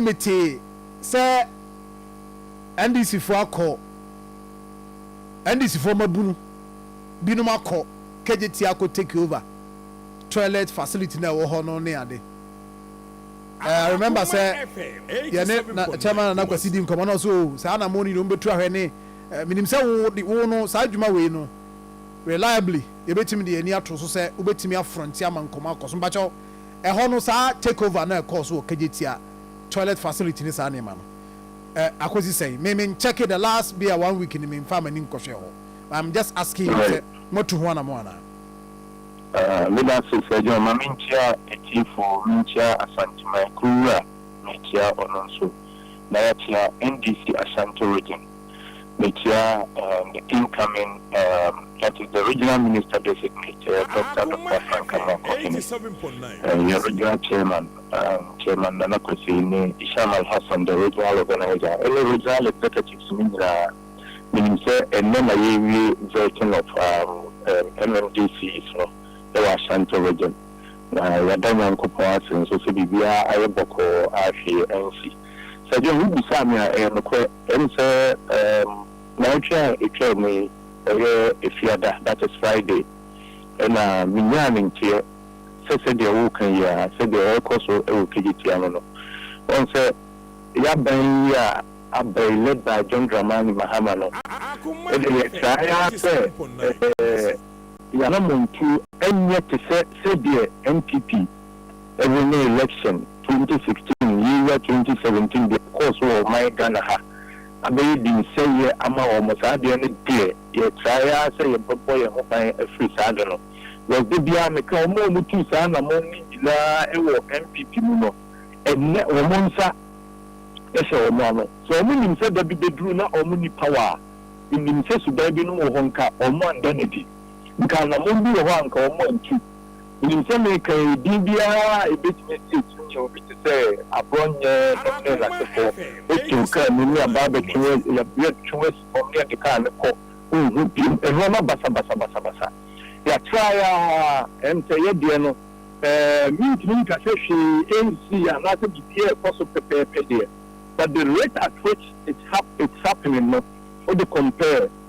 metee sɛ NDCfoɔ akɔ, NDCfoɔ mmabunu binom akɔ KJT akɔ take over toilet facility no a ɛwɔ hɔ no ne ade. Eh, I remember sɛ yɛne na Chairman Nana Kwasi di nkɔmmɔ na ɔsɛ o, saa anammɔn no nyinaa wɔbɛtu ahwɛ ne, eh, menim sɛ wo de, wo no, saa adwuma wei no, reliably, yɛbɛtumi de yɛn ani ato so sɛ wobɛtumi afronte ama nkɔmmɔ akɔ so. Mpakyɛw, Ɛhɔ no saa takeover no a ɛkɔɔ so wɔ Kagyetia toilet facility ne saa nneɛma no ɛ akɔsi sɛn? Me me nkyɛke the last bia one week no me nfaa m'ani nkɔhwɛɛ hɔ but I'm just asking you sɛ mo atu ho anamɔn anaa? Ah, meda ase Sir John. Ma menkyia atiefo, menkyia Asanteman, Kuruwura, mekyia ɔno nso, na yɛakyia NDC Ashanti Region. Mekyia the incoming that is the regional minister designate Doctor Doctor Frank Amoako Hene, yɛn regional chairman Chairman Nana Kwesi ne Isham Al Hassan the regional organiser ɛne regional executives no nyinaa. Menim sɛ ɛnnɛ na yɛrewie vetting of MMDCs no wɔ Ashanti region na yɛada Nyankopɔn ase nso sɛ biribiara ayɛ bɔkɔɔ ahwee ansi. Sɛdeɛ wobisaa me a, ɛyɛ nokorɛ. Ɛne sɛ, um, naawɔtwe a ɛtwaa mu yi, ɛyɛ Efiada, that is Friday, ɛna menyaa ne nteɛ sɛ sɛdeɛ woreka yi a, sɛdeɛ ɛrekɔ so wɔ Kejetia no no. Woahu sɛ yɛaban yi a aba yi, led by John Dramani Mahama no, ɛdeɛ yɛtrae ara sɛ eh, yɛn anammɔntuo nyɛ te sɛ sɛdeɛ NPP ɛwɔ ne election twenty sixteen yeiwa twenty seventeen deɛ ɛkɔɔ so wɔ ɔman Ghana ha abɛyɛ dinsɛeɛ ama wɔn saa adeɛ no deɛ yɛ try ara sɛ yɛ bɛbɔ yɛn ho ban afiri saa ade no because da biara me ka wɔn a wɔn tuu saa anamɔn no nyinaa ɛwɔ NPP mu no ɛnɛ wɔn nsa ɛhyɛ wɔn ano sɛ wɔn nim sɛ da bi bɛduru na wɔn ni power a me nim sɛ suban binom wɔ hɔ nka wɔn anda no adi nka anamɔn bi wɔ hɔ a nka wɔn antu Minim sɛ mereka yi, din biara a ebetumi asi akyiri kyerɛ obi te sɛ aborɔ nyɛ dɔm ne n'asefoɔ. Wotew kaa mu ne aba abɛtwe wo asi, yɛatwe wo asi fam ne yɛde kaa no kɔ, wonhu bio. Nneɛma basabasa basabasa. Yɛatra ara a, ɛnte. Ɛyɛ deɛ no, ɛɛ, mintumi nka sɛ hwee nsii anaasɛ biribiara rekɔ so pɛpɛɛpɛ deɛ, but the rate at which it's hap, it's happening no, wode compare.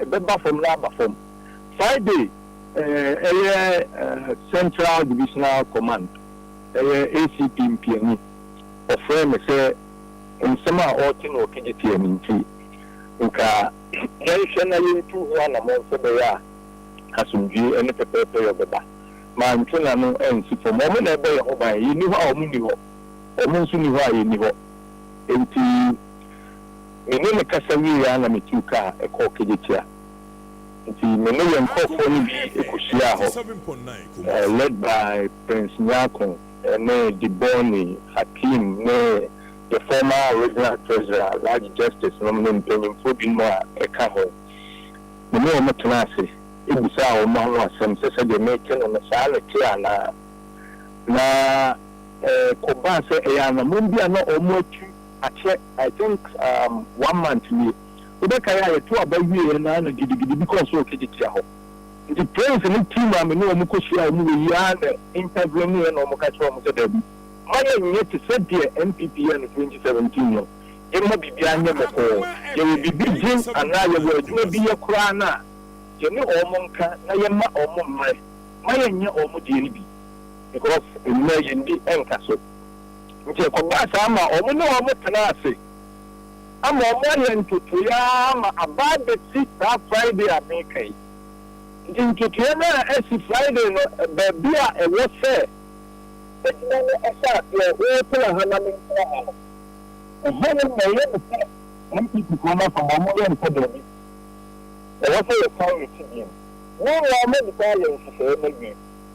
ɛbɛba fam na aba fam. Friday yɛ Central Divisional Command, ɛyɛ ACP mpiani. Ɔfrɛɛ me sɛ nsɛm a ɔrete no Okigyitiɛ no nti, nka yɛnhwɛ na yɛntu ho anammɔn sɛ ɛbɛyɛ a asomdwoeɛ ne pɛpɛɛpɛyɔ bɛba. Mante n'ano ansi fam. Wɔn na ɛbɔ yɛn ho ban. Yɛnni hɔ a wɔn nni hɔ, wɔn nso nni hɔ a yɛnni hɔ. Enti. Me ne no kasa wiei ara na mituu kaa kɔɔ Kejetia. Enti me ne yɛn nkurɔfoɔ no bi kɔhyiaa hɔ, led by Prince Nyarko ne Diboni, Hakim ne the former original treasurer, Alhaji Justice nom ne mpanyimfoɔ binom a ɛka ho. Me ne wɔn tenaa ase bisaa wɔn ano asɛm sɛ sɛdeɛ mete no no saa na ɛte anaa. Na ɛkɔbaa sɛ ɛyɛ anammɔn bi a na wɔatu. akyɛ I think um one month nie wobɛkae a yɛto aba wieɛ no ara na gidigidi bi kɔɔ so wɔ Kejetia hɔ nti Prince ne team a me ne wɔn kɔ hyia wɔn wɔ yi ara na interveneɛ na wɔn ka kyerɛ wɔn sɛ daabi mma yɛn nyɛ te sɛ deɛ NPP yɛɛ no 2017 no mma biribiara nyɛ bɔkɔɔ yɛwɔ biribi gye anaa yɛwɔ adwuma bi yɛ koraa no a yɛne wɔn nka na yɛmma wɔn mmerɛ mma yɛn nyɛ wɔn deɛ no bi because nnɛ yɛn di nka so. Enti ɛkɔbaa saa ma wɔne wɔn tenaa ase ama wɔayɛ ntotoeɛ ara ma aba abɛsi saa Friday a mereka yi. Enti ntotoeɛ no a asi Friday no, baabi a ɛwɔ sɛ adwuma no hyɛ aseɛ, wotena ha na mentena ha no, ɛhɔ no na ɛyɛ me sɛ NPPfoɔ no afam, wɔyɛ me sɛ daabi, ɛwɔ sɛ yɛsan yɛ ti bio. Meanwhile, madi kan ayɛ nhyehyɛeɛ no awie.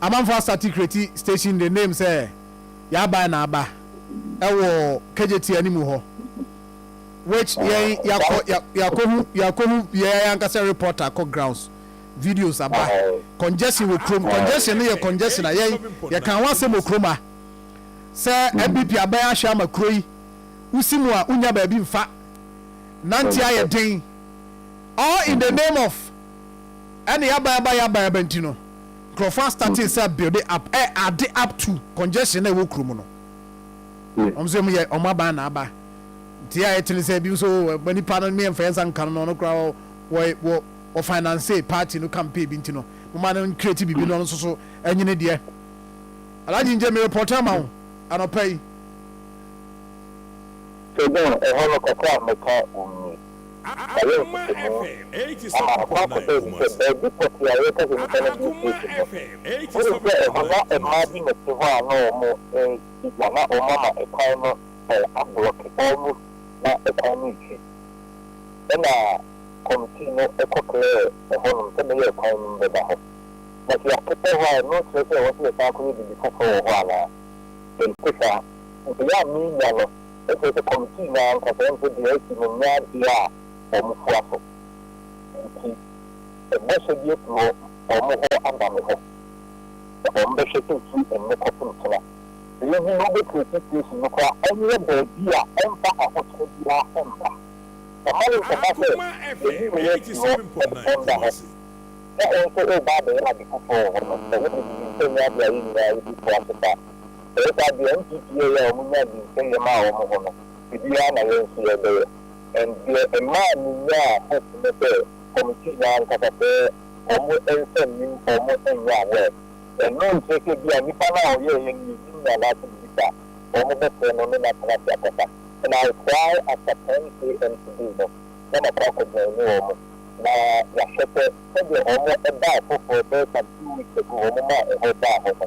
Amanfoɔ asate Kreti station de name sɛ Y'aban na aba ɛwɔ KJT animu hɔ which yɛn yakɔ yakɔhu yakɔhu yɛn ankasa reporter kɔ grounds videos aba congestion wɔ kurom congestion no yɛ congestion a yɛn yɛka ho asɛm wɔ kurom a sɛ MBP aban ahwɛ ama kuro yi wosi mu a wonya baabi mfa nante ayɛ den all in the name of ɛne y'aban aba y'aban aba nti no. nkurɔfoɔ a starting sɛ building up ɛ adde up to congestion a ɛwɔ kuro mu no wɔn nso wɔn yɛ wɔn aban na aba nti a ɛtene sɛ ebi nso wɔ nipa no mmea nfa nsa nka no na ɔno koraa wɔ wɔ wɔ wɔ finance party no campaign bi nti no mo ma no nkireti bibi no ɔno nso so ɛnyini deɛ alagye ngye mi report ama wo anɔpa yi. Sɛ dɛn ɛhɔ no kakra a mɛka wɔn ni. Ɔyɛɛ ntetemu ama ɔkwan kɛkɛ yi sɛ baabi pɔtee a yɛrekasa nnipa no de retie fi no, wonim sɛ ɛhɔ na mmaa bi na ɛte hɔ a na wɔredi gua, na wɔama kwan no ablɔke almost na kwan no resi. Ɛnna kɔmitii no kɔklɛɛ ɛhɔnom sɛ meyɛɛ kwan no mu bɛda hɔ. Na sɛ yɛakɛtɛ hɔ a, ɛno kyerɛ sɛ ɛwɔ sɛ yɛsan kɔyɛ biribi foforɔ wɔ hɔ anaa? Mente saa. Nea menya no. Na kyerɛ sɛ kɔmitii no ankasa mpo de asi no nyɛ adeɛ a wɔn fua so. Enti bɔhyɛ bi afi wɔn hɔ aba me hɔ sɛ wɔbɛhwɛ sɛ ɛfiri ɛnnɛ kɔpem kyena. Sɛ yɛhu na wobɛtumi asi station no koraa a, ɛnyɛ baabi a ɛmfa ahokyerɛ biara mma. Ɛma no nkɔba sɛ yɛyi wo yɛ firi hɔ ɛdɔn da hɔ, na wo nso woreba abɛyɛ ade foforɔ wɔ hɔ no. Ɛno deɛ menim sɛ ɛnyɛ adeɛ a yɛn nyinaa yɛbɛfua so saa. Ɛyɛ saa deɛ NPP yɛeɛ a wɔn nyaa dinsɛn yɛ maa wɔn ho no, ebi ara na yɛn nso yɛrebɛyɛ. And deɛ ɛmaa me nyaa hope ne sɛ committee no ankasa sɛ wɔn nsa nnim wɔn nyɛ aware. Ɛno nkyerɛ sɛ ebia nipa no a ɔyɛeɛ no yɛnnim no anaasɛ biribi saa. Wɔn bɛfrɛ no ne no atena ase akasa. And I cry after ten AM today no na makɔ akɔ joine wɔn na yɛahwɛ sɛ sɛdeɛ wɔn ɛbaa foforɔ bɛyɛ some two weeks ago wɔn maa ɛhɔ daa hɔ no,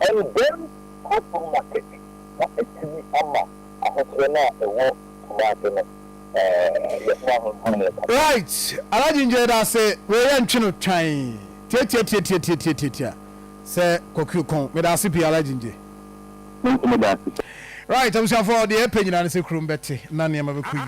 Ɛndɛn Kuropɔn Market na ɛtumi ama ahokyerɛ no a ɛwɔ Kumasi no yɛ ho ahonhomee kɛse. Right Alhaji Ngyɛ yɛdase wei yɛ ntwe no twan tiatiatiatiatiatiatiatia sɛ kɔkue kɔn medase pii Alhaji Ngyɛ. Me nso medase sɛ. Right abusuafoɔ deɛ yɛpɛ nyinaa ne sɛ kurom bɛte na nneɛma bɛkɔ yie.